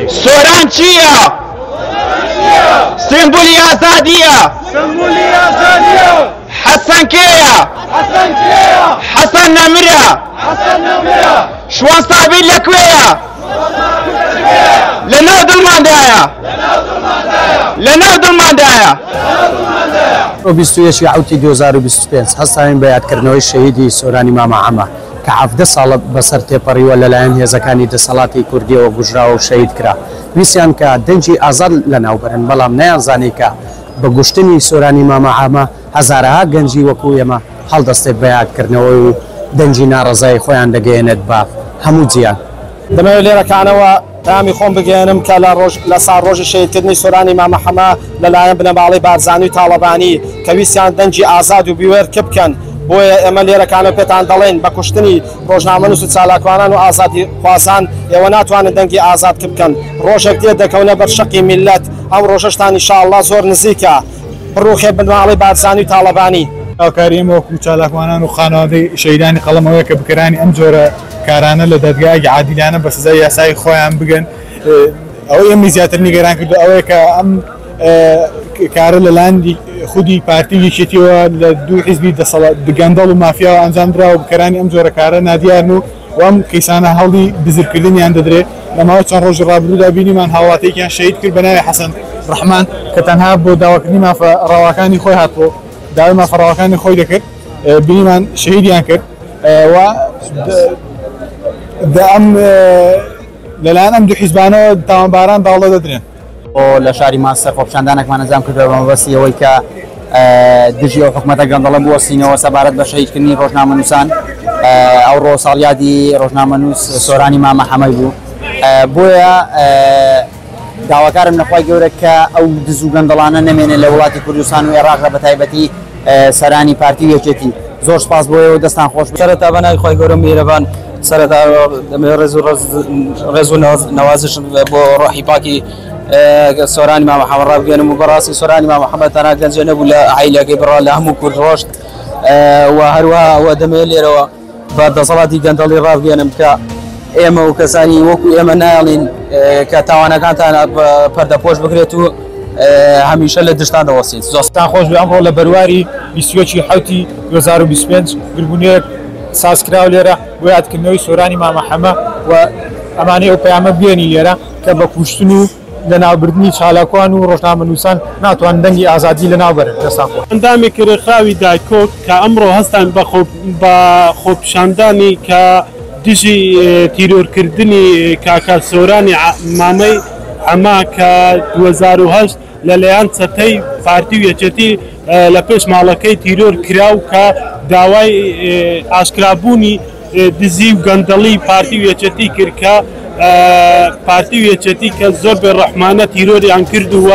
سۆران چییە؟ سمبولی ئازادیە حەسەن کێیە؟ حەسەن نەمرە شوان سابیر لە کوێیە؟ لەناو دڵماندایە لەناو دڵماندایە. ئۆ بیست و یەک ئوتی دوو هەزار و بیست و پێنج هەستاوین بە یادکردنەوەی شەهیدی سۆرانی مامە عەمە کە حەڤدە ساڵە بەسەر تێپەڕیوە لەلایەن هێزەکانی دەسەڵاتی کوردیەوە کوژراوە و شەهید کرا ویستیان کە دەنگی ئازاد لەناوبەرن بەڵام نەیانزانی کە بە کوشتنی سۆرانی مامە عەمە هەزارەها گەنجی وەکو ئێمە هەڵدەستێت بە یادکردنەوە و دەنگی ناڕەزایی خۆیان دەگەیەنێت بە هەموو جیهان. دەمەوێت لێرەکانەوە پەیامی خۆم بگەیەنم کە لە ڕۆژ لە ساڕۆژی شەهیدکردنی سۆرانی مامە حەمە لە لایەن بنەماڵەی بارزانی و تاڵەبانی کە ویستیان دەنگی ئازاد و بوێر کپ کەن بۆیە ئێمە لێرەکانەوە پێتان دەڵێین بە کوشتنی ڕۆژنامەنووس و چالاکوانان و ئازادیخوازان ئێوە ناتوانن دەنگی ئازاد کپ کەن ڕۆژێک دێت دەکەونە بەر شەقی میللەت ئەو ڕۆژەشتان ان شاء اللە زۆر نزیکە. بڕوخێ بنەماڵەی بارزانی و تاڵەبانی. هاوکاری ئێمە وەکو چالاکوانان و خانەوادەی شەهیدانی قەڵەم ئەوەیە کە بکەرانی ئەم جۆرە کارانە لە دادگایەکی عادیلانە بە سزای یاسایی خۆیان بگەن. ئەوەی ئێمەی زیاتر نیگەران کردووە ئەوەیە کە ئەم کارە لەلایەن خودی پارتی و یەکێتییەوە لە دوو حیزبی گەندەڵ و مافیاوە ئەنجام دراوە و بکەرانی ئەم جۆرە کارە نادیارن و و ئەم کەیسانە هەوڵی دزرکردنیان دەدرێ، لە ماوەی چەند ڕۆژی ڕابردوودا بینیمان هاوڵاتییەکیان شەهید کرد بە ناوی حەسەن ڕەحمان کە تەنها بۆ داواکردنی مافە ڕەواکانی خۆی هاتبوو داوای مافە ڕەواکانی خۆی دەکرد بینیمان شەهیدیان کرد و دە ئەم لەلایەن ئەم دوو حیزبانەوە تاوانباران داڵدە دەدرێن. لە شاری مانچستەر خۆپیشاندانێکمان ئەنجام کردووە بە مەبەستی ئەوەی کە دژی ئەو حکومەتە گەندەڵە بوەستینەوە سەبارەت بە شەهیدکردنی ڕۆژنامەنووسان ئەوڕۆ ساڵیادی ڕۆژنامەنووس سۆرانی مامە حەمەی بوو بۆیە داواکارم لەخوای گەورە کە ئەو دز و گەندەڵانە نەمێنێت لە وڵاتی کوردستان و عێراق لە بەتایبەتی سەرانی پارتی و یەکێتی زۆر سپاس بۆ ئێوە دەستان خۆش بێت. سەرەتا بە ناوی خوای گەورە میهرەبان سەرەتا دەمەوێت ڕێز و ڕێز و نەوازشم بۆ ڕۆحی پاکی سۆرانی مامە حەمە ڕابگەێنم و بەڕاستی سۆرانی مامە حەمە تەنها گەنجێ نەبوو لە عیلەکەی بڕا لە هەموو کورد ڕۆشت و هەروە ئەوە دەمەوێت لێرەوە بە دەسەڵاتی گەندەڵی ڕابگەێنم کە ئێمە و کەسانی وەکو ئێمە نایڵین کە تاوانەکانتان پەردەپۆش بکرێت و هەمیشە لە دشتان دەوەسیت زۆستان خۆش ئەمڕۆ لە بەرواری بیسوەکی حوتی 2025 گربوونێک سازکراو لێرە بۆ یادکردنەوەی سۆرانی مامەحەمە و ئەمانەی ئەو پەیامە بێنی لێرە کە بە کوشتن و لەناوبردنی چالاکوان و ڕۆژنامەنووسان ناتوانن دەنگی ئازادی لەناوبەرن لە ساکۆ. ئەندامی کرێخراوی دایکۆک کە ئەمڕۆ هەستان بە خۆپیشاندانی کە دژی تیرۆرکردنی کاکە سۆرانی مامەی حەمە کە دوو هەزار و هەشت لە لەیان چەتەی پارتی و یەکێتی لە پێش ماڵەکەی تیرۆر کراو کە داوای ئاشکرا بوونی دزی و گەندەڵی پارتی و یەکێتی کرد کە پارتی و یەکێتی کە زۆر بێ ڕەحمانە تیرۆریان کرد و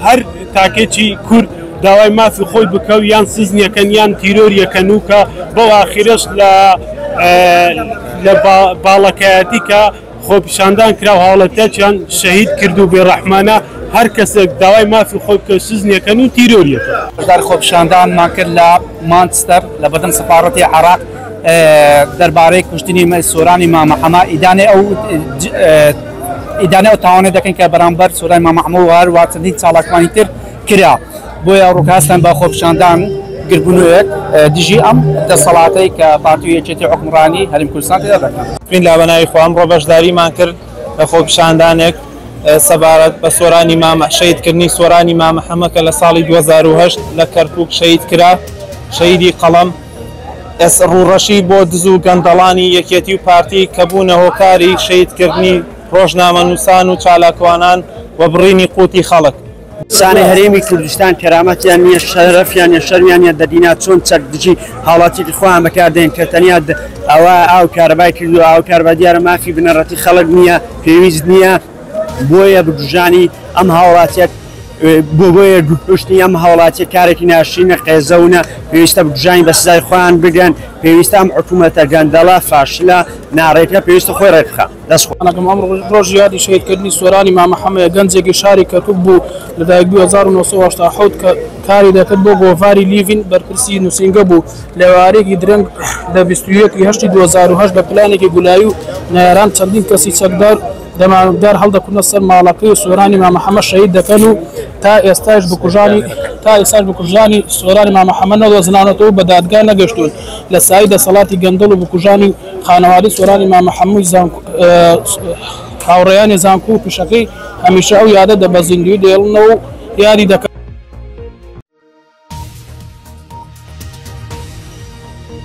هەر تاکێکی کورد داوای مافی خۆی بکە و یان سزنیەکەن یان تیرۆریەکەن و کە بەو ئاخیرش لە لە باڵەکایەتی کە خۆپیشاندان کرا و هاوڵاتیاچیان شەهید کرد و بێڕەحمانە هەر کەسێک داوای مافی خۆی بکەوێت سجنیەکەن و تیرۆریەکەن. بەشداری خۆپیشاندانمان کرد لە مانچستەر لە بەردەم سەفاڕەتی عێراق دەربارەی کوشتنی سۆرانی مامە حەمە ئیدانەی ئەو ئیدانەی ئەو تاوانەی دەکەین کە بەرامبەر سۆرانی مامە حەمە و هەروە چەندین چالاکوانی تر کرا بۆیە ڕوکەستان بە خۆپیشاندان گردبونوێک دژی ئەم دەسەڵاتەی کە پارتی و یەکێتی حوکمڕانی هەرێم کوردستان تێدا دەکەن. بسم اللە بەناوی خوا ئەمڕۆ بەشداریمان کرد لە خۆپیشاندانێک سەبارەت بە سۆرانی مامە شەید کردنی سۆرانی مامە حەمە کە لە ساڵی دوو هەزار و هەشت لە کەرکوک شەید کرا شەیدی قەڵەم ئێستا ڕووڕەشی بۆ دز و گەندەڵانی یەکێتی و پارتی کە بوونە هۆکاری شەید کردنی ڕۆژنامەنووسان و چالاکوانان و بڕینی قوتی خەڵک. زانای هەرێمی کوردستان کەرامەتیان نییە شەرەفیان نیە شەرمیان نیە دەبینا چۆن چەک دژی هاوڵاتیکی خۆیان بەکاردێن کە تەنیا د- ئەوە ئاو کارەبای کردو ئاو کارەبا دیارە مافی بنەڕەتی خەڵک نییە پێویست نییە بۆیە بکوژانی ئەم هاوڵاتیەک بۆ بۆیە کوشتنی ئەم هاوڵاتیە کارێکی ناشرینە قێزەونە پێویستە بکوژانی بە سزای خۆیان بگەن پێویستە ئەم حکومەتە گەندەڵە فاشلە ناڕێکە پێویستە خۆی ڕێکبخا. دەست خۆش. گیانەکەم ئەمڕۆ ڕۆژی یادی شەهیدکردنی سۆرانی مامە حەمەیە، گەنجێکی شاری کەرکوک بوو، لەدایکبووی هەزار و نۆ سەد و هەشتا و حەوت کە کاری دەکرد بۆ گۆڤاری لیڤین بەرپرسی نووسینگە بوو، لەئێوارەیەکی درەنگ لە بیست و یەک ی هەشتی دوو هەزار و هەشت بە پلانێکی گولایی و نەیاران چەندین کەسی چەکدار و دەمامکدار هەڵدەکوتنە سەر ماڵەکەی و سۆرانی مامە حەمە شەهید دەکەن و تا ئێستاش بکوژانی سۆرانی مامە حەمە نەدۆزراونەتەوە و بە دادگا نەگەشتوون لە سایی دەسەڵاتی گەندەڵ و بکوژانی خانەوادەی سۆرانی مامە حەمۆی زانکۆ و هاوڕێیانی زانکۆ و پیشەکەی هەمیشە ئەو یادە دە بە زیندووی دەیڵنەوە و یادی دەکەن.